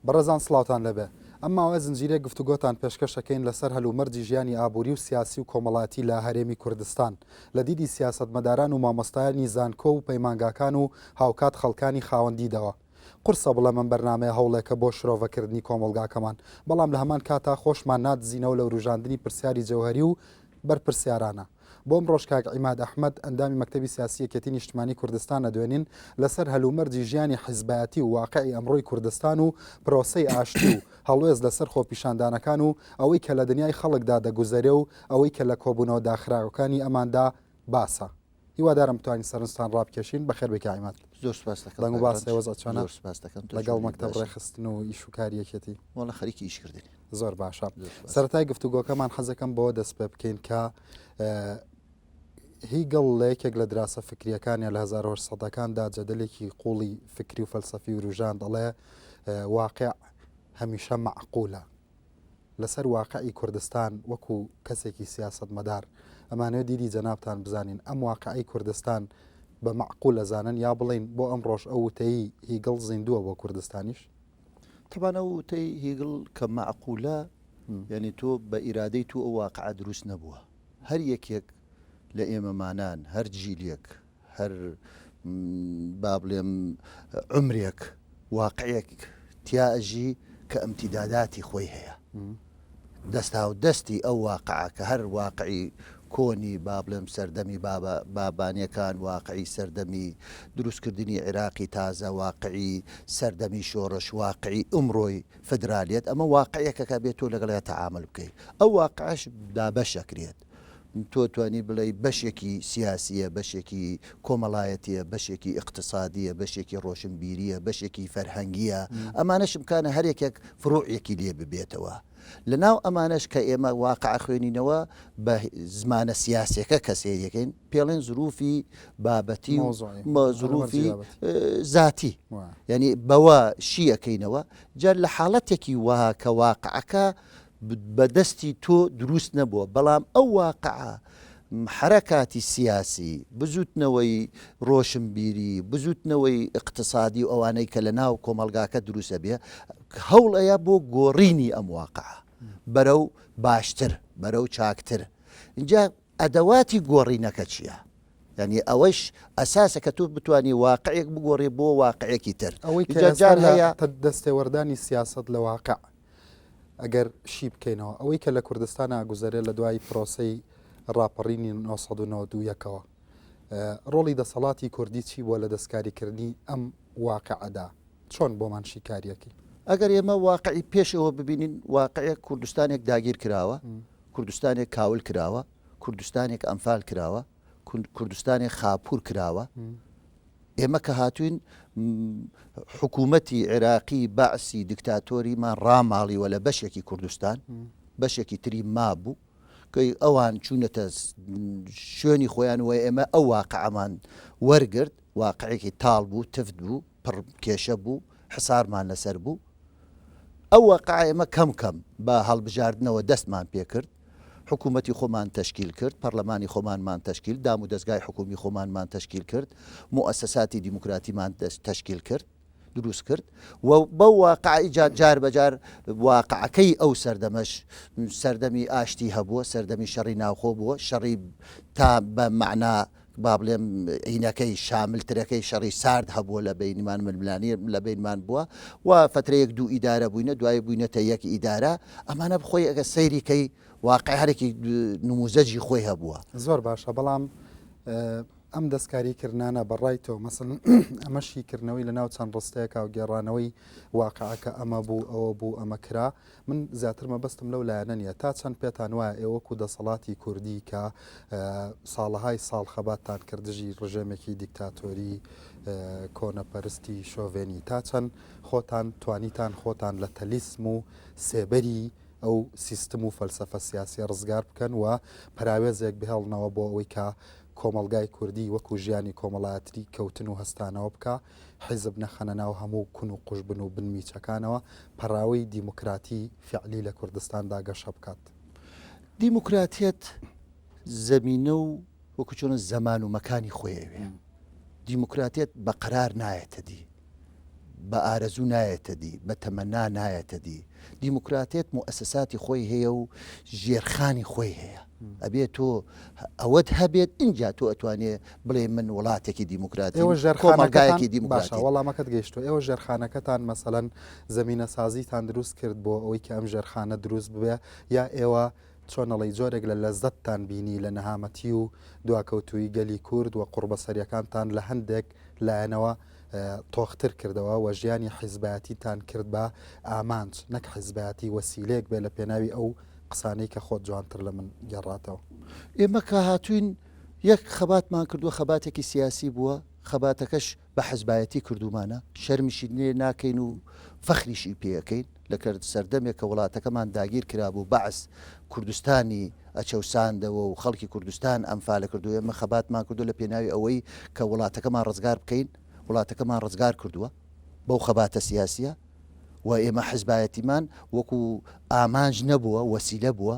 بەڕێزان سڵاوتان لێبێ. ئەم ماوەیە زنجیرەیەک گفتوگۆتان پێشکەش ئەکەین لەسەر هەلومەرجی ژیانی ئابووری و سیاسی و کۆمەڵایەتی لە هەرێمی کوردستان لە دیدی سیاسەتمەداران و مامۆستایانی زانکۆ و پەیمانگاکان و هاوکات خەڵکانی خاوەن دیدەوە. قورسە بڵێم ئەم بەرنامەیە هەوڵێکە بۆ شرۆڤەکردنی کۆمەڵگاکەمان، بەڵام لە هەمان کاتا خۆشمان نادزینەوە لە وروژاندنی پرسیاری جەوهەری و بەرپرسیارانە. بۆ ئەمڕۆش کاک عیماد ئەحمەد، ئەندامی مەکتەبی سیاسی یەکێتی نیشتمانی کوردستان ئەدوێنین لەسەر هەلومەرجی ژیانی حیزبایەتی و واقعی ئەمڕۆی کوردستان و پرۆسەی ئاشتی و هەڵوێست لەسەر خۆپیشاندانەکان و ئەوەی کە لە دنیای خەڵکدا دەگوزەرێ و ئەوەی کە لە کۆبوونەوە داخراوەکانی ئەماندا باسە. هیوادارم بتوانین سەرنجتان ڕابکێشین بەخێر بێکا عیماد زۆر سپاس دەکەم بەنگ و باس هێوەزە چۆنە زۆر سپاس دەکەم تۆ لەگەڵ چۆنی مەکتەب باشی؟ ڕێخستن و ئیش و کاریەکێتی وەڵا خەریکی ئیش کردنی زۆر باشە زۆر سپاس. سەرەتای گفتوگۆکەمان حەزەکەم بەوە دەست پێ بکەین کە اه، هیگڵ لە یەکێک لە دراسە فکریەکانیان لە 1970ەکاندا جەدەلێکی قوڵی فکری و فەلسەفی وروژاند دەڵێ اه، واقع هەمیشە معقولە لەسەر واقعی کوردستان وەکو کەسێکی سیاسەتمەدار ئەمانەوێت دیدی جەنابتان بزانین ئەم واقعەی کوردستان بە مەعقول ئەزانن یا بڵێین بۆ ئەمڕۆش ئەو وتەی هیگڵ زیندووە بۆ کوردستانیش؟ تەبان ئەو وتەی هیگڵ کە مەعقولە یانی تۆ بە ئیرادەی تو ئەو واقعە دروست نەبووە هەر یەکێک لە ئێمەمانان هەر جیلێک هەر با بڵێم عومرێک واقعێک تیا ئەژی کە ئەمتیداداتی خۆی هەیە. دەستاودەستی ئەو واقعە کە هەر واقعی کۆنی با بڵێم سەردەمی بابە بابانەکان واقعی سەردەمی دروستکردنی عێراقی تازە واقعی سەردەمی شۆڕش واقعی ئمڕۆی فدرالیەت ئەمە واقعەکەکە بێت تۆ لەگەڵیا تەعامل بکەیت ئەو واقعش دابەش ئەکرێت تۆ توانی بڵێی بەشێکی سیاسییە، بەشێکی کۆمەڵایەتییە، بەشێکی ئیقتسادییە، بەشێکی ڕۆشنبیرییە، بەشێکی فەرهەنگییە، ئەمانەش امکانە هەر یەکێک فروعێکی لێ ببێتەوە. لە ناو ئەمانەش کە ئێمە واقع ئەخوێنینەوە بە زمانە سیاسییەکە کە سەیری ئەکەین، پێڵێن زرووفی بابەتی و زرووفی زاتی یعنی بەوە شی ئەکەینەوە، جا لە حاڵەتێکی وەها کە واقعەکە بە دەستی تۆ دروست نەبووە، بەڵام ئەو واقعە حەرەکاتی سیاسی، بزووتنەوەی ڕۆشنبیری، بزووتنەوەی ئیقتسادی و ئەوانەی کە لە ناو کۆمەڵگاکە دروست ئەبێ، هەوڵ ئەیا بۆ گۆڕینی ئەم واقعە بەرەو باشتر، بەرەو چاکتر. ئینجا ئەدەواتی گۆڕینەکە چییە؟ یعنی ئەوەش ئەساسە کە تۆ بتانی واقعێک بگۆڕێ بۆ واقعێکی تر ئەوەی جار هەیە دەستێوەردانی سیاست لە واقع ئەگەر شی بکەینەوە ئەوەی کە لە کوردستان ئاگوزەرێ لە دوای پرۆسەی ڕاپەڕینی 1992ەکەوە ڕۆڵی دەسەڵاتی کوردی چی بووە لە دەستکاریکردنی ئەم واقعەدا چۆن بۆمان شیکاریەکی ئەگەر ئێمە واقعی پێش ئەوە ببینین واقعەیە کوردستانێک داگیر کراوە کوردستانێک کاول کراوە کوردستانێک ئەمفال کراوە کوردستانی خاپور کراوە ئێمە کە هاتوین حکوومەتی عێراقی بەعسی دکتاتۆریمان ڕاماڵیوە لە بەشێکی کوردستان بەشێکی تری مابوو کەی ئەوان چوونەتە شوێنی خۆیان وە ئێمە ئەو واقعمان وەرگرت واقعێکی تاڵ بوو تفت بوو پڕ کێشە بوو، حسارمان لەسەر بوو. ئەو وەقعە ئێمە کەم کەم بە هەڵبژاردنەوە دەستمان پێ کرد. حکوومەتی خۆمان تەشکیل کرد، پەڕلەمانی خۆمانمان تەشکیل، دام و دەزگای حکوومی خۆمانمان تەشکیل کرد، موئەسەساتی دیموکراتیمان تەشکیل کرد، دروست کرد و بەو واقعە جار جار بە جار واقعەکەی ئەو سەردەمەش سەردەمی ئاشتی هەبووە، سەردەمی شەڕی ناوخۆ بووە، شەڕی تا بە مەعنا با بڵێم ئینەکەی شاملترەکەی شەڕی سارد هەبووە لە بینمان ململانی لە بینمان بووە و فترەیەک دوو ئیدارە بووینە دوای بووینەتە یەک ئیدارە ئەمانە بخۆی ئەگە سەیریکەی واقعارێکی نموزەجی خۆی هەبووە زۆر باشە بەڵام ئەم دەستکاری کردانە بەڕای تۆ مەسن ئەمەشی کردنەوەی لە ناو چەند ڕستەیەکە و گێڕانەوەی واقعەکە ئەمە بوو ئەوە بوو ئەمە کرا من زیاتر مەبەستم لەو لایەنە نییە، تا چەند پێتان وایە ئێوە وەکوو دەسەڵاتی کوردی کە ساڵەهای ساڵ خەباتتان کرد دژی ڕژێمێکی دیکتاتۆری کۆنەپەرستی شۆڤێنی، تا چەند خۆتان توانیتان خۆتان لە تەلیسم و سێبەری ئەو سیستم و فەلسەفە سیاسییە ڕزگار بکەن و پەراوێزێک بهێڵنەوە بۆ ئەوەی کە کۆمەڵگای کوردی وەکوو ژیانی کۆمەڵایەتری کەوتن و هەستانەوە بکا؟ حیزب نەخەنە ناو هەموو کون و قوژبن و بن میچەکانەوە، پەڕاوی دیموکراتی فیعلی لە کوردستاندا گەشە بکات. دیموکراتیەت زەمینە و وەکو چۆنە زەمان و مەکانی خۆی ئەوێ. دیموکراتیەت بە قەرار نایەتە دی. بە ئارەزوو نایەتە دی، بە تەمەنا نایەتە دی. دیموکراتیەت موئەسەساتی خۆی هەیە و ژێرخانی خۆی هەیە. ئەبێ تۆ ئەوەت هەبێت ئینجا تۆ ئەتوانێ بڵێ من وڵاتێکی دیموکراتیم کۆمەلگایەکی دیم باشە وەڵامەکەت گەیشتو ئێوە ژێرخانەکەتان مەسەەن زمینە سازیتان دروست کرد بۆ ئەوەی کە ئەم ژێرخانە دروست ببێ یا ئێوە چۆنەڵی جۆرێک لە لەزەتتان بینی لە نەهامەتی و دواکەوتوی گەلی کورد و قوڕبەسەریەکانتان لە هەندێک لایەنەوە تۆختر کردەوە و ژیانی حیزباتیتان کرد بە ئامانج نەک حیزباتی وەسیلێک بێ لە پێناوی ئەو قسانەی کە خۆت جوانتر لە من گەڕاتەوە ئێمە کە هاتوین یەک خەباتمان کردووە، خەباتێکی سیاسی بووە، خەباتەکەش بە حزبایەتی کردوومانە، شەرمیشی لێ ناکەین و فەخریشی پێ ئەکەین، لە کەر سەردەمێک کە وڵاتەکەمان داگیر کرابوو، بەعس کوردستانی ئەچەوساندەوە و خەڵکی کوردستان ئەنفال ئەکرد و ئێمە خەباتمان کردووە لە پێناوی ئەوەی کە وڵاتەکەمان ڕزگار بکەین، وڵاتەکەمان ڕزگار کردووە بەو خەباتە سیاسییە و ئێمە حزبایەتیمان وەکوو ئامانج نەبووە، وەسیلە بووە.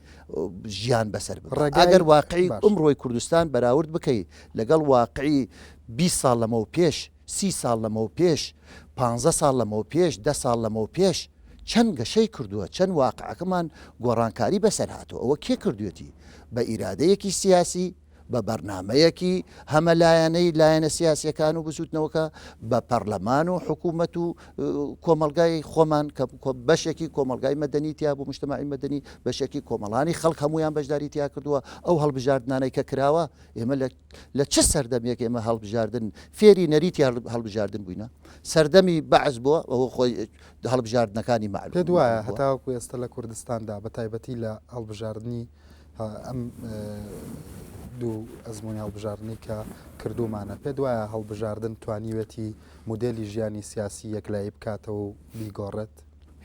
ژیان بەسەر ببات ئەگەر واقعی ئمڕۆی کوردستان بەراورد بکەی لەگەڵ واقعی بیست ساڵ لەمەو پێش سی ساڵ لەمەو پێش پانزە ساڵ لەمەو پێش دە ساڵ لەمەو پێش چەند گەشەی کردووە چەند واقعەکەمان گۆڕانکاری بەسەر هاتووە ئەوە کێ کردوێتی بە ئیرادەیەکی سیاسی بە بەرنامەیەکی هەمەلایەنەی لایەنە سیاسەکان و بزوتنەوەکە بە پەرلەمان و حکوومەت و کۆمەلگای خۆمان کە بەشێکی کۆمەلگای مەدەنی تیا بوو مشتماعی مەدەنی بەشێکی کۆمەڵانی خەڵک هەمویان بەشداری تیا کردووە ئەو هەڵبژاردنانەی کە کراوە ئێمە لە چ سەردەمێک ئێمە هەڵبژاردن فێری نەریتی هەڵبژاردن بووینە سەردەمی بەعز بووە ئەوە خۆی هەڵبژاردنەکانی معلوم دوایە هەتاوەکو ئێستا لە کوردستاندا بە تایبەتی لە هەڵبژاردننی ئەم دوو ئەزموونی هەڵبژاردنەی کە کردوومانە، پێت وایە هەڵبژاردن توانیوێتی مودێلی ژیانی سیاسی یەکلایی بکاتەوە و بیگۆڕێت؟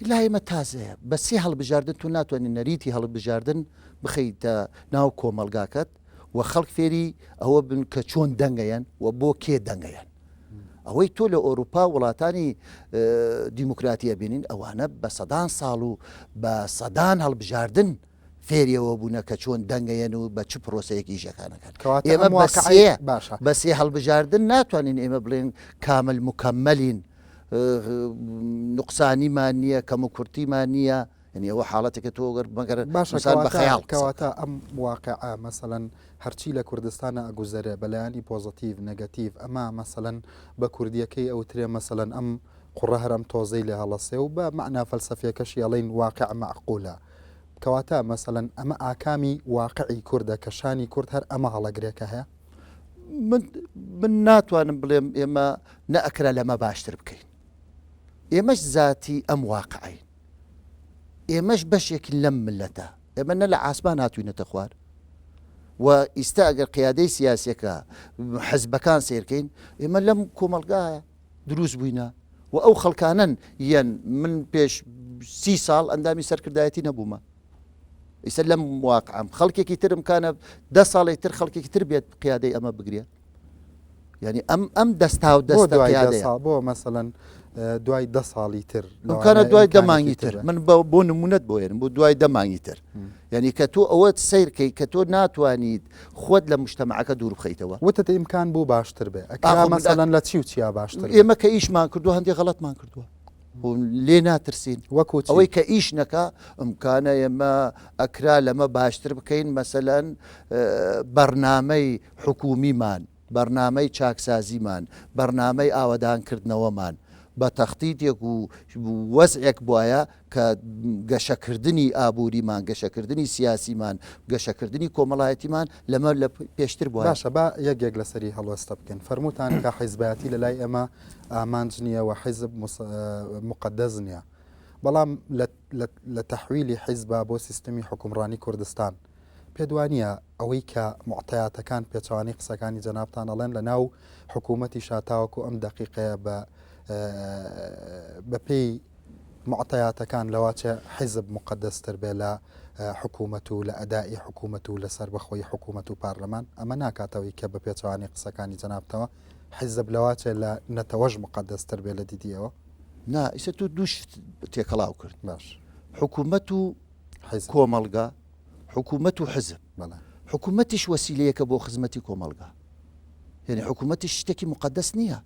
لای ئێمە تازەیە. بە سێ هەڵبژاردن تۆ ناتوانیت نەریتی هەڵبژاردن بخەیتە ناو کۆمەڵگاکەت و خەڵک فێری ئەوە بن کە چۆن دەنگ ئەیەن و بۆ کێ دەنگ ئەیەن. ئەوەی تۆ لە ئۆرووپا و وڵاتانی دیموکراتی ئەبینین ئەوانە بە سەدان ساڵ و بە سەدان هەڵبژاردن فێری ئەوە بوونە کە چۆن دەنگەیەن و بە چ پرۆسەیەک ئیشەکان ئەکەن. کەواتە ئێمە ئەم بە واقعەی سێ باشە. بە سێ هەڵبژاردن ناتوانین ئێمە بڵێن کامل موکەمەلین ئه، نوقسانیمان نییە، کەموکورتیمان نییە، یەنی ئەوە حاڵەتێکە تۆ گەر مەگەر باشە ئینسان بە کەواتە خەیاڵ قسە کەواتە بکات. ئەم واقعە مەسەلەن هەرچی لە کوردستانە ئەگوزەرێ بە لایەنی پۆزەتیڤ نەگەتیڤ ئەما مەسەلەن بە کوردییەکەی ئەوترێ مەسەلەن ئەم قوڕە هەر ئەم تۆزەی لێ هەڵەسێ و بە مەعنا فەلسەفییەکەشی ئەڵێین واقع مەعقولە کەواتە مەسەلەن ئەمە ئاکامی واقعی کوردە کە شانی کورد هەر ئەمە هەڵەگرێکە هەیە؟ من ناتوانم بڵێم ئێمە نەئەکرا لەمە باشتر بکەین ئێمەش زاتی ئەم واقعین ئێمەش بەشێکین لەم ملەتە ئێمە نە لە ئاسمان هاتوینەتە خوار و ئیستا ئەگەر قیادەی سیاسەکە حەزبەکان سیرکەین ئێمە لەم کۆمەلگایە دروست بووینە و ئەو خەڵکانەن یەن من پێش سی ساڵ ئەندامی سەرکردایەتی نەبوومە ئیسە لەم واقعام خەڵکێکی ترم کانە دە ساڵێک تر خەڵکێکی تر بێت قیادەی ئەمە بگرێت ینی ئەم ئەم دەستا و دەست بۆ مەسەەن دوای دە ساڵی تر کارە دوای دەمانگی تر من بۆ نمونەت بۆێن بۆ دوای دەمانگی تر یعنی کە تۆ ئەوە سیرکەی کە تۆ ناتوانیت خۆت لە مجتەمەعەکە دوور بخەیتەوە. وتت ئیمکان بوو باشتر بێ، ئەکرا ئاخۆ مرداک. مەسەلەن لە چی و چیا باشتر بێ؟ ئێمە کە ئیشمان کردووە هەندێ غەڵەتمان کردووە و لێ ناترسین. وەکو چی؟ ئەوەی کە ئیش نەکا، ئیمکانە ئێمە ئەکرا لەمە باشتر بکەین، مەسەلەن بەڕنامەی حکوومیمان بەرنامەی چاکسازیمان، بەرنامەی ئاوەدانکردنەوەمان بە تەختیتێک و وەزعێک بوایە کە گەشەکردنی ئابووریمان، گەشەکردنی سیاسیمان، گەشەکردنی کۆمەڵایەتیمان لەمە لە پێشتر بوایە. باشە با یەک یەک لەسەری هەڵوێستە بکەین. فەرمووتان کە حیزبایەتی لە لای ئێمە ئامانج نییە و حیزب موقەدەس نییە. بەڵام لە تەحویلی حیزبا بۆ سیستمی حوکمڕانی کوردستان، پێت وانییە ئەوەی کە موعتەیاتەکان پێچەوانەی قسەکانی جەنابتان ئەڵێن لە ناو حکوومەتی شاتاوەکو ئەم دەقیقەیە بە بەپێی معتەیاتەکان لەواچە حیزب مقدەستر بێ لە حکوومەت و لە ئەدای حکوومەت و لەسەر بەخۆی حکوومەت و پارلەمان ئەمە ناکاتەوەی کە بە پێچوانی قسەکانی جنابتەوە حیزب لەواچێ لە نەتەوەش مقدەستر بێ لە دیدیەوە نا ئیسە تۆ دووشت تێکەڵاو کرد باش حکوومەت و کۆمەڵگا حکوومەت و حزب حکوومەتیش وەسیلەیەکە بۆ خزمەتی کۆمەلگا یعنی حکوومەتیش شتێکی مقدەست نییە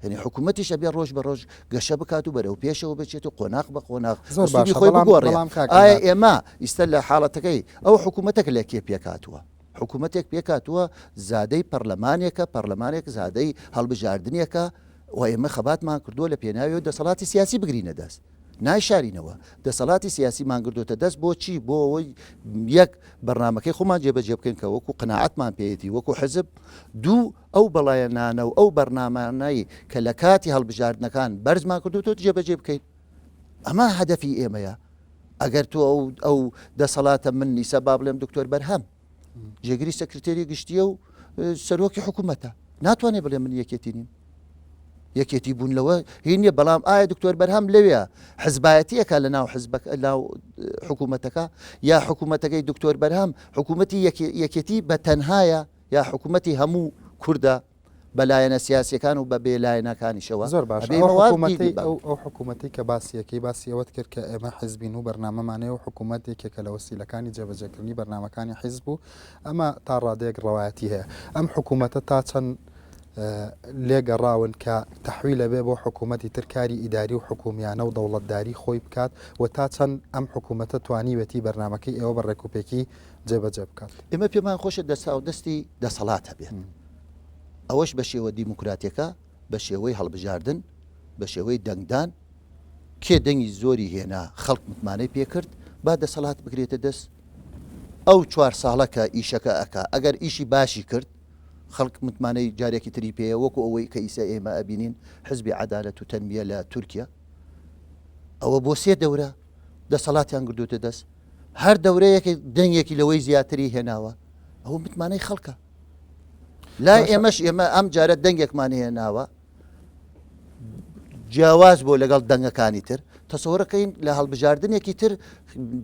هەنی حکوومەتیش ئەبێ ڕۆژ بە ڕۆژ گەشە بکات و بەرەو پێشەوە بچێت و قۆناق بە قۆناق زۆر باشی خۆی بگۆڕێڵام ئایا ئێمە ئیستا لە حاڵەتەکەی ئەو حکوومەتەک لە کێ پێکاتوە حکوومەتێک پێکاتوە زادەی پەرلەمانێکە پەرلەمانێک زادەی هەڵبژاردنێکە و ئێمە خەباتمان کردووە لە پێناوی و دەسەڵاتی سیاسی بگرینە دەست نایشارینەوە دەسەڵاتی سیاسی مان گردۆتە دەست بۆ چی بۆ ئەوەی یەک بەرنمەکەی خۆمان جێبەجێ بکەین کە وەکو قەنەعاتمان پێێتی وەکو حزب دوو ئەو بەڵایە نانە و ئەو بەرنمانایی کە لە کاتی هەڵبژاردنەکان بەرزمان کردوتۆ جێبەجێ بکەین ئەمە هەدەفی ئێمەیە ئەگەر تۆ ئەو ئەو دەسەڵاتە من نیسە با بڵێم دکتۆر بەرهەم جێگری سەکرتێری گشتیە و سەرۆکی حکوومەتە ناتوانێت بڵێ من یەکێتی نیم یەکێتی بوون لەوە هینە بەڵام ئایا دکتۆر بەرهەم لەوێ حزبایەتیەکە لە ناو حزبەک ناو حکوومەتەکە یا حکوومەتەکەی دکتۆر بەرهەم حکوومەتی یەکێتی بە تەنهایە یا حکوومەتی هەموو کووردە بە لایەنە سیاسیەکان و بە بێ لایەنەکانیشەوە زۆر باش ئەو حکوومەتی کە باسیەکەی باسی ئەوەت کرد کە ئێمە حزبین و بەرنامەمانەیە و حکوومەت یەکێکە لە وەسیلەکانی جێبەجێکردنی بەرنمەکانی حیزب و ئەمە تا ڕادێک ڕەوایەتی هەیە ئەم حکوومەتە تا چەند لێگەڕاون کە تەحوی لەبێ بۆ حکوومەتی ترکاری ئیداری و حکومیانە و دەوڵەتداری خۆی بکات و تا چەند ئەم حکوومەتە توانیوێتی بەرنمەکەی ئێوە بە ڕێکوپێکی جێبەجێ بکات ئمە پێمان خۆشە دەسا و دەستی دەسەڵات هەبێت. ئەوەش بە شێوە دیموکراتیەکە، بە شێوەی هەڵبژاردن، بە شێوەی دەنگدان، کێ دەنگی زۆری هێنا خەڵک متمانەی پێ کرد با دەسەڵات بگرێتە دەست، ئەو چوار ساڵە کە ئیشەکە ئەکا ئەگەر ئیشی باشی کرد خەڵک متمانەی جارێکی تری پێیە وەکو ئەوەی کە ئیسە ئێمە ئەبینین حزبی عەدالەت و تەنمیە لە تورکیا ئەوە بۆ سێ دەورە دەسەڵاتیان گردوتە دەست هەر دەورەیەکێک دەنگێکی لەوەی زیاتری هێناوە ئەوە متمانەی خەڵکە. لای ئێمەش ئێمە ئەم جارە دەنگێکمان هێناوە جیاواز بۆ لەگەڵ دەنگەکانی تر تەسەوەەکەین لە هەڵبژاردنێکی تر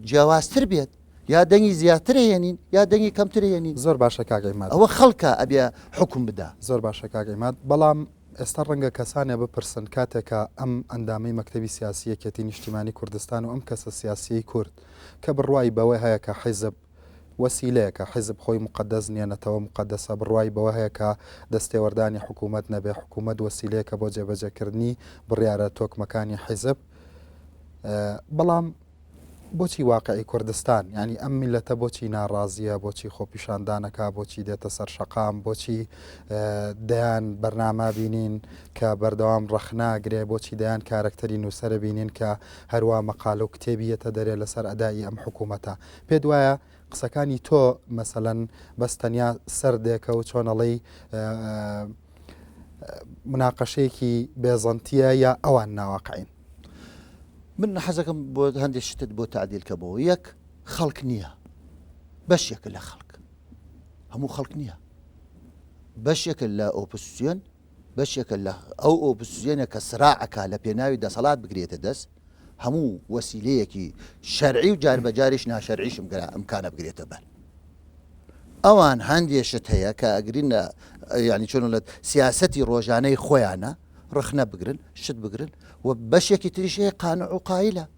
جیاوازتر بێت یا دەنگی زیاتر هێنین یا دەنگی کەمتر هێنین زۆر باشە کاگەیمات ئەوە خەڵکە ئەبێ حکم بدا زۆر باشە کاگەیمات بەڵام ئێستا ڕەنگە کەسانە بپرسن کاتێکە ئەم ئەندامی مەکتتەبی سیاسیەکێتی نیشتیمانی کوردستان و ئەم کەسە سیاسیی کورد کە بڕوای بەوەی هەیە کە حیزب وەسیلەیەکە، حیزب خۆی موقەدەس نیە، نەتەوە موقەدەسە، بڕوای بەوە هەیە کە دەستێوەردانی حکوومەت نەبێ، حکوومەت وەسیلەیەکە بۆ جێبەجێکردنی بڕیارە تۆکمەکانی حیزب، بەڵام بۆچی واقعی کوردستان، یانی ئەم میللەتە بۆچی ناڕازییە، بۆچی خۆپیشاندانەکا، بۆچی دێتە سەر شەقام، بۆچی دەیان بەرناما بینین کە بەردەوام ڕەخناگرێ، بۆچی دەیان کارەکتەری نووسەرە بینین کە هەروا مەقالە و کتێبی یەتە دەرێ لەسەر ئەدائی ئەم حکوومەتە. پێت وایە قسەکانی تۆ مەسەلەن بەس تەنیا سەردێکە و چۆنەڵی مناقەشەیەکی بێزەنتیە یا ئەوان ناواقعین من حەزەکەم بۆ هەندێک شتت بۆ تعدیلکەمەوە یەک خەڵک نییە بەشێکە لە خەڵک هەموو خەڵک نییە بەشێکە لە ئۆپسیۆن بەشێکە لە ئەو ئۆپسزیۆنە کە سراع ئەکا لە پێناوی دەسەڵات بگرێتە دەست، هەموو وەسیلەیەکی شەرعی و جار بە جاریش ناشەرعیش ئمکانە بگرێتە بەر. ئەوان هەندێ شت هەیە کە ئەگرین یانی چۆن بڵێت سیاسەتی ڕۆژانەی خۆیانە ڕەخنە بگرن، شت بگرن و بەشێکی تریش هەیە قانع و قایلە.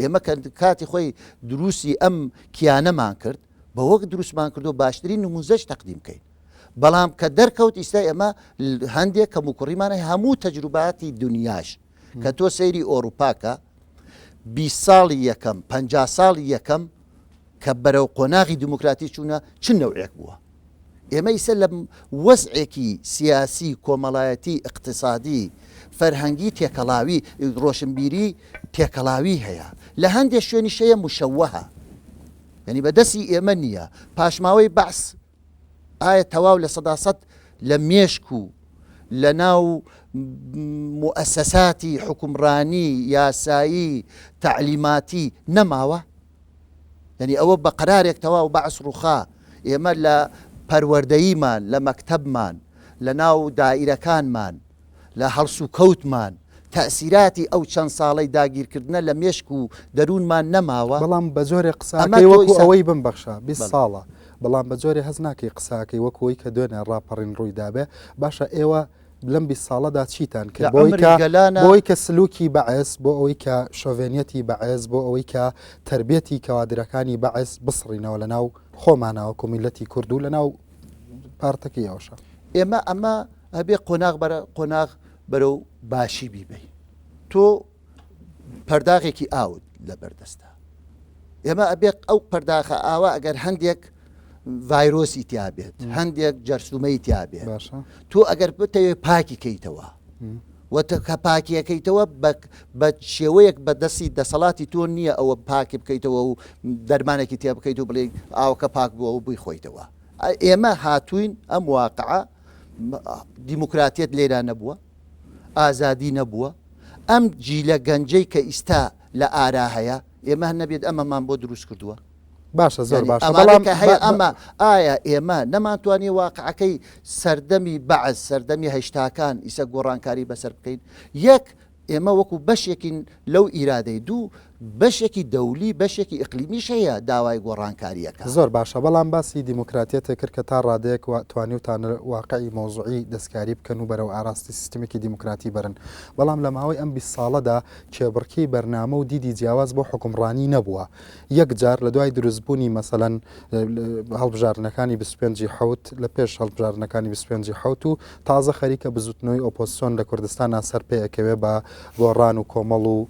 ئێمە کە کاتی خۆی دروستی ئەم کیانەمان کرد بە وەک دروستمان کردو باشترین نموزەش تەقدیم کەین بەڵام کە دەرکەوت ئیستا ئێمە هەندێک کەم و کوڕیمانە هەموو تەجروباتی دنیاش کە تۆ سەیری ئۆروپاکە بی ساڵی یەکەم پ ساڵی یەکەم کە بەرەو قۆناغی دیموکراتی چوونە چ نەوعێک بووە؟ ئێمە ئیسە لە وەزعێکی سیاسی، کۆمەڵایەتی، ئیقتسادی، فەرهەنگی تێکەڵاوی، ڕۆشنبیری تێکەڵاوی هەیە. لە هەندێ شوێنیش هەیە مشەوەهە. یانی بە دەستی ئێمە نییە. پاشماوەی بەعس. ئایا تەواو لە سەدا سەد لە مێشک و لە ناو موئەسەساتی حکومڕانی یاسایی تەعلیماتی نەماوە؟ یعنی ئەوە بە قەرارێک تەواو بەعس ڕووخا ئێمە لە پەروەردەییمان لە مەکتەبمان لە ناو دائیرەکانمان لە هەڵسوکەوتمان، تەئسیراتی ئەو چەند ساڵەی داگیرکردنە لە مێشک و دەروونمان نەماوە؟ بەڵام بە جۆرێ قسەکەی وەکو ئەوەی بمبەخشە بیست ساڵە، بەڵام بە جۆرێ هەست ناکەی قسەکەی وەکو ئەوەی کە دوێنێ ڕاپەڕین ڕووی دابێ؟ باشە ئێوە لەم بیست ساڵەدا چیتان کرد بۆ ئەوەی کە سلوکی بەعس، بۆ ئەوەی کە شۆڤێنیەتی بەعس، بۆ ئەوەی کە تەربێتی کەوادرەکانی بەعس بسڕینەوە لەناو خۆمانە وەکو میللەتی کورد و لەناو پارتەکە یاوەشە ئێمە ئەمە ئەبێ قۆناغ بەرە قۆناغ بەرەو باشی بیبی تۆ پەرداغێکی ئاوت لە بەردەستە ئێمە ئەبێت ئەو پەرداخە ئاوا ئەگەر هەندێک ڤایرۆسی تیاابێت هەندێک جەرسومەی تیاابێت تۆ ئەگەر بتەوێ پاکی کەیتەوە و تۆ کە پاکیەکەیتەوە بە بە شێوەیەک بە دەستی دەسەڵاتی تۆ نییە ئەوە پاکی بکەیتەوە و دەرمانێکی تێ بکەیت و بڵێیت ئاوکە پاک بووە و بووی خۆیتەوە ئێمە هاتوین ئەم واقعە دیموکراتیت لێرا نەبووە ئازادی نەبووە ئەم جیلە گەنجەی کە ئیستا لە ئارا هەیە ئێمە نەبێت ئەمەمان بۆ دروست کردووە باشە زۆر باش بەڵام هەیە ئەمە ئایا ئێمە نەمانتوانی واقعەکەی سەردەمی بەعز سەردەمی هەشتاکان ئیسە گۆڕانکاری بەسەر بکەین یەک ئێمە وەکو بەشێکین لەو ئیرادەی دوو بەشێکی دەولی بەشێکی ئەقلیمیش هەیە داوای گۆڕانکاریەکە زۆر باشە بەڵام باسی دیموکراتیەتێک کرد کە تا ڕادێک و توانی وتان واقعی مۆزوعی دەستکاری بکەن و بەرەو ئاراستی سیستمێکی دیموکراتی برن بەڵام لە ماوەی ئەم 20 ساڵەدا کێبڕکی بەرنامە و دیدی جیاواز بۆ حکومڕانی نەبووە یەک جار لە دوای دروستبوونی مەسەەن هەڵبژارنەکانی 25 حوت لە پێش هەڵبژارنەکانی 25 حوت و تازە خەریکە بزوتنەوەی ئۆپۆسیۆن لە کوردستان سەر پێەکەوێ بە گۆڕان و کۆمەڵ و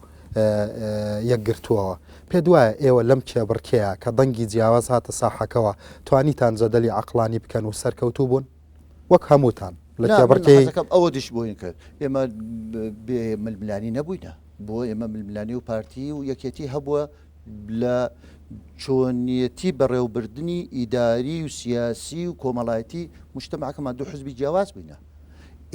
یەکگرتووەوە پێ دوایە ئێوە لەم کێبڕکەیە کە دەنگی جیاواز هاتە ساحەکەەوە توانیتان جەدەلی عقلانی بکەن و سەرکەوتوو بوون وەک هەمووتان لە کێبڕکێکەکەم ئەوە دش بۆین کرد ئێمە بێ ململانی نەبووینە بۆ ئێمە ململانی و پارتی و یەکێتی هەبووە لە چۆنیەتی بەڕێوبردننی ئیداری و سیاسی و کۆمەڵایەتی مشتمەکەمان دوو حزبی جیاواز بووینە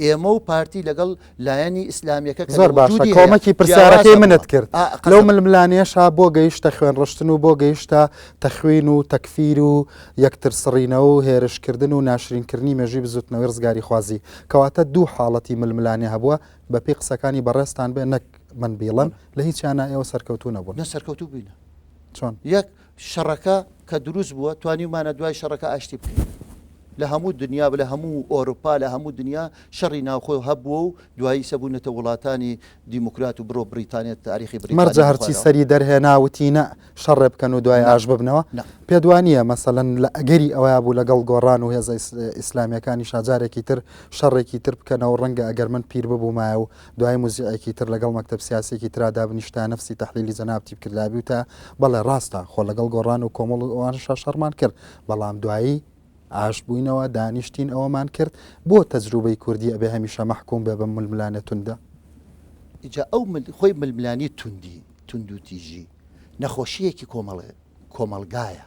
ئێمە و پارتی لەگەڵ لایەنی ئیسلامیەکە کە لە وجودی هەیە جیاوازە بۆ. زۆر باشە کۆمەکی پرسیارەکەی منت کرد لەو ململانێشا بۆ گەیشتە خوێنڕشتن و بۆ گەیشتە تەخوین و تەکفیر و یەکتر سڕینەوە و هێرشکردن و ناشرینکردنی مێژووی بزوتنەوەی ڕزگاریخوازی کەواتە دوو حاڵەتی ململانێ هەبووە بەپێی قسەکانی بەڕێزتان بێ نەک من بیڵێم لە هیچیانا ئێوە سەرکەوتوو نەبوون. نە سەرکەوتوو بووینە. چۆن؟ یەک شەڕەکە کە دروست بووە توانیومانە دوای شەڕەکە ئاشتی بکەین لە هەموو دنیا لە هەموو ئۆروپا لە هەموو دنیا شەڕی ناوخۆی هەبووە و دوایی سەبوونەتە وڵاتانی دیموکرات و بڕۆ بریتانێت تاریخی بری مەرجە هەرچی سەری دەرهێنا وتی نە شەڕێ بکەن و دوای ئاش ببنەوە پێدوانیە مەسەەن لە ئەگەری ئەوە بوو لەگەڵ گۆڕان و هێزە ئیسلامیەکانی شاجارێکی تر شەڕێکی تر بکەنەوە ڕەنگە ئەگەر من پیر ببوومایە و دوای موزیعێکی تر لەگەڵ مەکتەب سیاسیەکی ترا دابنیشت تا نەفسی تەحلیلی جەناب تیپکرددا بیوتە، بەڵێ ڕاستە، خۆ لەگەڵ گۆڕان و کۆمەڵ و ئەوانەشا شەڕمان کرد، بەڵام دوایی ئاشت بووینەوە، دانیشتین ئەوەمان کرد، بۆ تەجروبەی کوردی ئەبێ هەمیشە مەحکوم بێ بەم ململانێ توندە؟ ئیجا ئەو خۆی ململانێی توندی، توندوتیژی، نەخۆشییەکی کۆمەڵ، کۆمەڵگایە.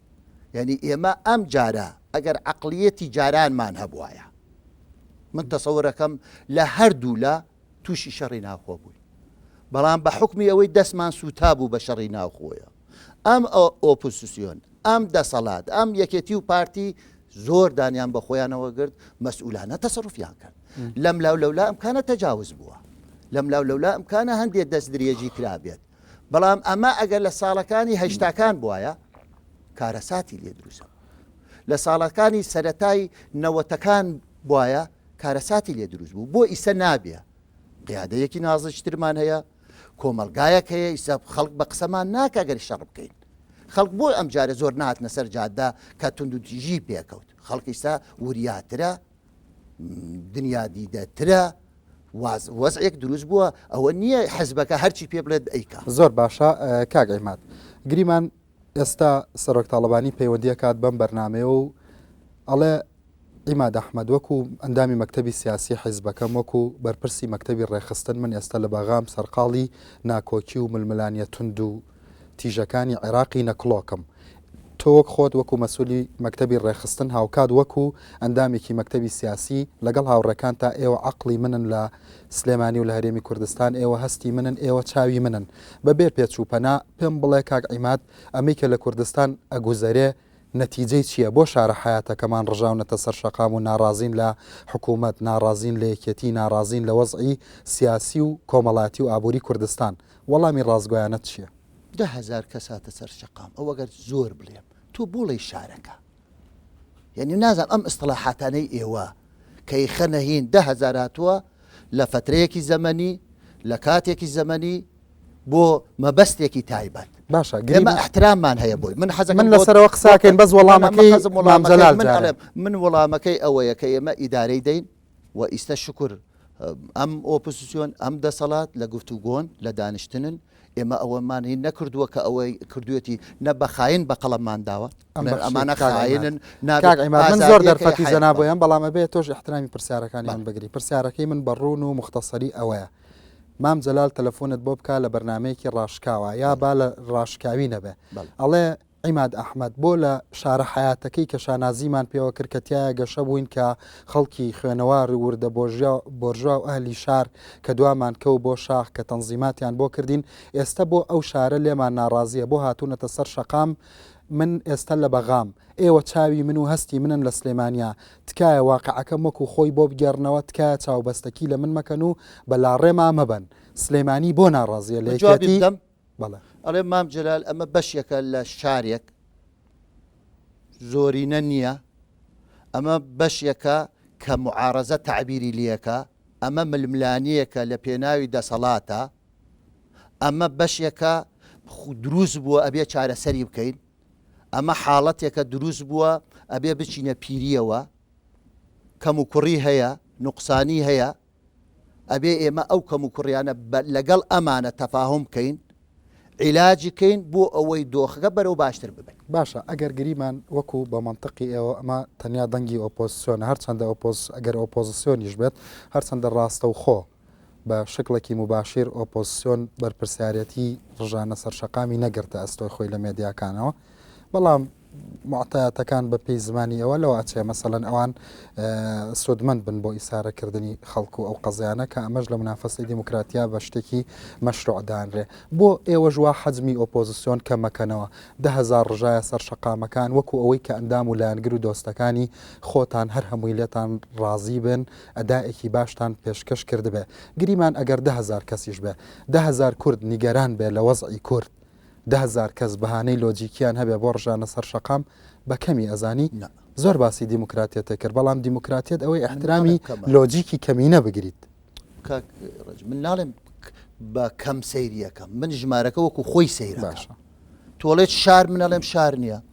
یانی ئێمە ئەم جارە ئەگەر عەقڵیەتی جارانمان هەبوایە من تەسەورەکەم لە هەردوو لە تووشی شەڕی ناوخۆ بووین بەڵام بە حکمی ئەوەی دەستمان سوتا بوو بە شەڕی ناوخۆیە ئەم ئۆپوسسیۆن ئەم دەسەڵات ئەم یەکێتی و پارتی زۆر دانیان بە خۆیانەوە گرت مەسئولانە تەسەڕفیان کرد لەم لاو لەولا ئەمکانە تەجاوز بووە لەم لاو لەولا ئەمکانە هەندێک دەست درێژی کرابێت بەڵام ئەمە ئەگەر لە ساڵەکانی هەشتاکان بواە کارەساتی لێ دروستە لە ساڵەکانی سەتای نەوەتەکان بواە کارەساتی لێ دروست بوو بۆ ئیسە نابێ قیادەیەکی نازشترمان هەیە کۆمەلگایەک هەیە ئیسە خەڵک بە قسەمان ناکە گەر شەڕ بکەین خەڵک بۆی ئەم جارە زۆر ناتنە سەر جاددا کە تونندتیژی پێکەوت خەڵکیستا وریاترە دنیادیدەترە وەزعێک دروست بووە ئەوە نییە حزبەکە هەرچی پێ بڵێت ئەیکا زۆر باشە کاک ئەیمات گریمان ئێستا سەرۆک تاالبانی پەیوەندیە کات بەم بەرنمەیە و ئەڵێ ئیما دەحمەد وەکو ئەندامی مەکتتەبی سیاسی حیزبەکەم وەکو بەرپرسی مەکتتەبی ڕێخستن من ئێستا لە بەغام سەرقاڵی ناکۆکی و ململانیە تونند و تیژەکانی عێراقی نەکڵۆکم. تۆ وەک خۆت وەکو مەسولی مەکتەبی ڕێکخستن هاوکات وەکو ئەندامێکی مەکتەبی سیاسی لەگەڵ هاوڕێکانتا ئێوە عەقڵی منن لە سلێمانی و لە هەرێمی کوردستان ئێوە هەستی منن ئێوە چاوی منن بە بێ پێچ و پەنا پێم بڵێ کاک عیماد ئەمەی کە لە کوردستان ئەگوزەرێ نەتیجەی چیە بۆ شارە حەیاتەکەمان ڕژاونەتە سەر شەقام و ناڕازین لە حکومەت ناڕازین لە یەکێتی ناڕازین لە وەزعی سیاسی و کۆمەڵاتی و ئابوری کوردستان وەڵامی ڕاستگۆیانەت چیە؟ دە هەزار کەس هاتە سەر شەقام ئەو ئەگەر زۆر بلێم تۆ بوڵێی شارەکە یەنی نازم ئەم ئستڵاحاتانەی ئێوە کەی خەنە هین دە هەزار هاتووە لە فترەیەکی زەمەنی لە کاتێکی زەمەنی بۆ مەبەستێکی تایبەت باشە گرمە احتراممان هەیە بۆی من حەز من لەسەرەوە قساکەین بەس وەڵامەکەی من وەڵامەکەی ئەوەیە کە ئێمە ئیدارەی دەین و ئیستە شوکور ئەم ئۆپۆزسیۆن ئەم دەسەڵات لە گفتوگۆن لە دانیشتنن ئێمە ئەوەمان هی نەکردووە کە ئەوەی کردوێتی نە بە خاین بە قەڵەممان داوە ئەم بەخشی ئەمانە کاک عیماد. خاینن نابێت کاک عیماد من ئازادیەکە زۆر دەرفەتی حیات زەنا بە. بۆیان بەڵام ئەبێ تۆش احترامی پرسیارەکانی من بەڵێ. بگری پرسیارەکەی من بە ڕوون و موختەسەری ئەوەیە مام جەلال تەلەفۆنت بۆ بکا لە بەرنامەیەکی ڕاشکاوا یا بەڵێ با لە ڕاشکاوی نەبێ بەڵێ. ئەڵێ عیماد ئەحمەد، بۆ لە شارە حەیاتەکەی کە شانازیمان پێوە کرد کە تیایا گەشە بووین کە خەڵکی خوێنەوار و وردە بۆرژوا و ئەهلی شار کە دوامان کەو بۆ شاخ کە تەنزیماتیان بۆ کردین ئێستە بۆ ئەو شارە لێمان ناڕازیە بۆ هاتوونەتە سەر شەقام من ئێستە لە بەغام ئێوە چاوی من و هەستی منن لە سلێمانیا تکایە واقعەکەم وەکو خۆی بۆ بگێڕنەوە تکایە چاوبەستەکی لە من مەکەن و بە لاڕێما مەبەن سلێمانی بۆ ناڕازیە لە یەکێتی بەڵێ. ئەڵێ مام جەلال ئەمە بەشێکە لە شارێک زۆرینە نییە ئەمە بەشێکە کە معارەزە تەعبیری لەکە ئەمە ململانیەکە لە پێناوی دەسەڵاتە ئەمە بەشێکە دروست بووە ئەبێ چارەسەری بکەین ئەمە حاڵەتێکە دروست بووە ئەبێ بچینە پیریەوە کەم و کوڕی هەیە نوقسانی هەیە ئەبێ ئێمە ئەو کەم و کوڕیانە بە لەگەڵ ئەمانە تەفاهوم کەین عیلاجی کەین بۆ ئەوەی دۆخەکە بەرەو باشتر ببێت. باشە ئەگەر گریمان وەکو بە مەنتقی ئێوە ئەمە تەنیا دەنگی ئۆپۆزسیۆنە هەرچەندە ئۆپۆز ئەگەر ئۆپۆزسیۆنیش بێت هەرچەندە ڕاستەوخۆ بە شکڵێکی مباشیر ئۆپۆزسیۆن بەرپرسیارێتی ڕژانە سەر شەقامی نەگرتە ئەستۆی خۆی لە مێدیاکانەوە، بەڵام معتایەتەکان بە پێی زمانی ئەوە لەوە ئەچێ مەسەەن ئەوان سوودمەند بن بۆ ئیسارەکردنی خەڵکو ئەو قەزیانە کە ئەمەش لە منافەسی دیموکراتیا بە شتێکی مەشروعدانرێ بۆ ئێوەژوا حەزمی ئۆپۆزیسیۆن کەمەکەنەوە دههزار ڕژایە سەر شقامەکان وەکو ئەوەی کە ئەندام و لایەنگر و دۆستەکانی خۆتان هەر هەمووی لێتان ڕازی بن ئەدایەکی باشتان پێشکەش کردبێ گریمان ئەگەر دههزار کەسیش بێ دههزار کورد نیگەران بێ لە وەزعی کورد دە هەزار کەس بەهانەی لۆجیکیان هەبێ بۆ ڕژانە سەر شەقام بە کەمی ئەزانی؟ زۆر باسی دیموکراتیەتە کرد بەڵام دیموکراتیەت ئەوەی ئەحترامی لۆجیکی کەمینە بگریت من ناڵێم بە کەم سەیریەکەم من ژمارەکە وەکو خۆی سەیر باشە تۆڵێت شار منەڵێم شار نییە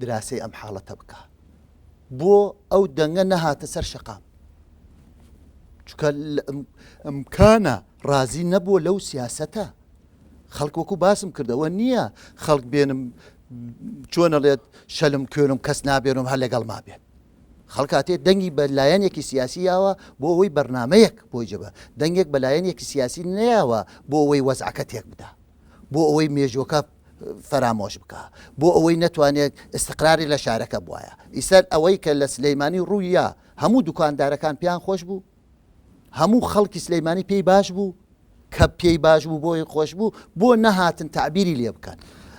دراسەی ئەم حاڵەتە بکا بۆ ئەو دەنگە نەهاتە سەر شەقام چکە ئەمکانە ڕازی نەبووە لەو سیاسەتە خەڵک وەکو باسم کردەوە نییە خەڵک بێنم چۆنەڵێت شەلم کوێنم کەس نابێنم هەر لەگەڵ ما بێت خەڵکاتێ دەنگی بە لایەنێکی سیاسی یاوە بۆ ئەوەی بەرنمەیەک بۆی جبە دەنگێک بە لایەنێکی سیاسی نەیەوە بۆ ئەوەی وەزعەکە تێک بدا بۆ ئەوەی مێژووەکە فەرامۆش بکە بۆ ئەوەی نەتوانێت استقراری لە شارەکە بواە ئیسەر ئەوەی کە لە سلەیمانی ڕوویە هەموو دوکاندارەکان پێیان خۆش بوو هەموو خەڵکی سلەیمانی پێی باش بوو کە پێی باش بوو بۆی خۆش بوو بۆ نەهاتن تعبیری لێ بکەن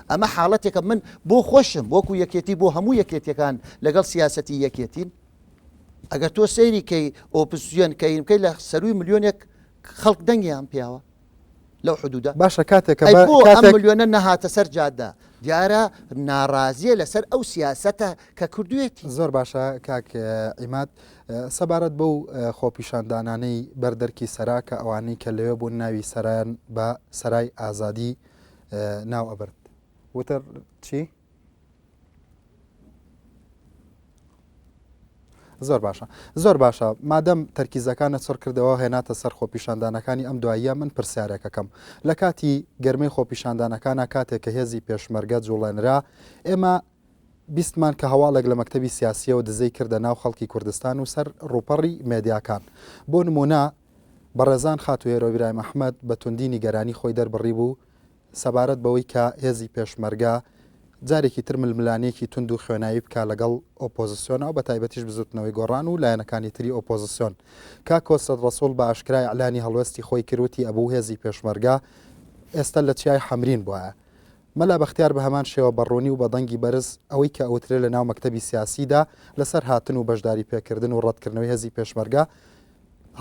ئەمە حاڵەتێکە من بۆ خۆشم وەکو یەکێتی بۆ هەموو یەکێتەکان لەگەڵ سیاستی یەکێتین ئەگەر تۆ سەیری کەی ئۆپسیۆن کەین بکەی لە سەروی ملیۆنێک خەڵک دەنگیان پیاوە لەو حدودە؟ باشە کاتێک کە ئەی بۆ ئەم کاتێک ملیۆنە نەهاتە سەر جادە؟ دیارە ناڕازیە لەسەر ئەو سیاسەتە کە کردوێتی. زۆر باشە کاک عیماد سەبارەت بەو خۆپیشاندانانەی بەر دەرکی سەرا کە ئەوانەی کە لەوێ بوون ناوی سەرایان بە سەرای ئازادی ناو ئەبرد وتر چی؟ زۆر باشە زۆر باشە مادەم تەرکیزەکانە چڕ کردەوە هێناتە سەر خۆپیشاندانەکانی ئەم دواییە من پرسیارێکەکەم لە کاتی گەرمەی خۆپیشاندانەکانە کاتێک کە هێزی پێشمەرگە جوڵێنرا ئێمە بیستمان کە هەواڵێک لە مەکتتەبی سیاسیەوە دزەی کردە ناو خەڵکی کوردستان و سەر ڕوپەڕی مێدیاکان بۆ نمونە بەڕێزان خاتوێرۆبرایم ئەحمد بە توندی نیگەرانی خۆی دەربڕی بوو سەبارەت بەوەی کە هێزی پێشمەرگە جارێکی تر ململانێکی توند و خوێناوی بکا لەگەڵ ئۆپۆزسیۆن و بەتایبەتیش بزوتنەوەی گۆڕان و لایەنەکانی تری ئۆپۆزسیۆن کاک کۆسرەت ڕەسوڵ بە ئاشکرا ئیعلانی هەڵوێستی خۆی کرد وتی ئەبوو هێزی پێشمەرگە ئێستا لە چیای حەمرین بوایە مەلا بەختیار بە هەمان شێوە بە ڕوونی و بە دەنگی بەرز ئەوەی کە ئەوترێ لە ناو مەکتەبی سیاسیدا لەسەر هاتن و بەشداری پێکردن و ڕەتکردنەوەی هێزی پێشمەرگە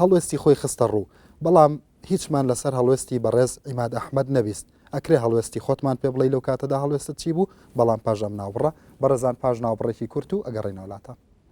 هەڵوێستی خۆی خستە ڕوو بەڵام هیچمان لەسەر هەڵوێستی بەڕێز عیماد ئەحمەد نەبیست، ئەکرێ هەڵوێستی خۆتمان پێ بڵێی لەو کاتەدا هەڵوێستت چی بوو، بەڵام پاش ئەم ناوبڕە، بەڕێزان پاش ناوبڕێکی کورت و ئەگەڕێینەوە لاتان.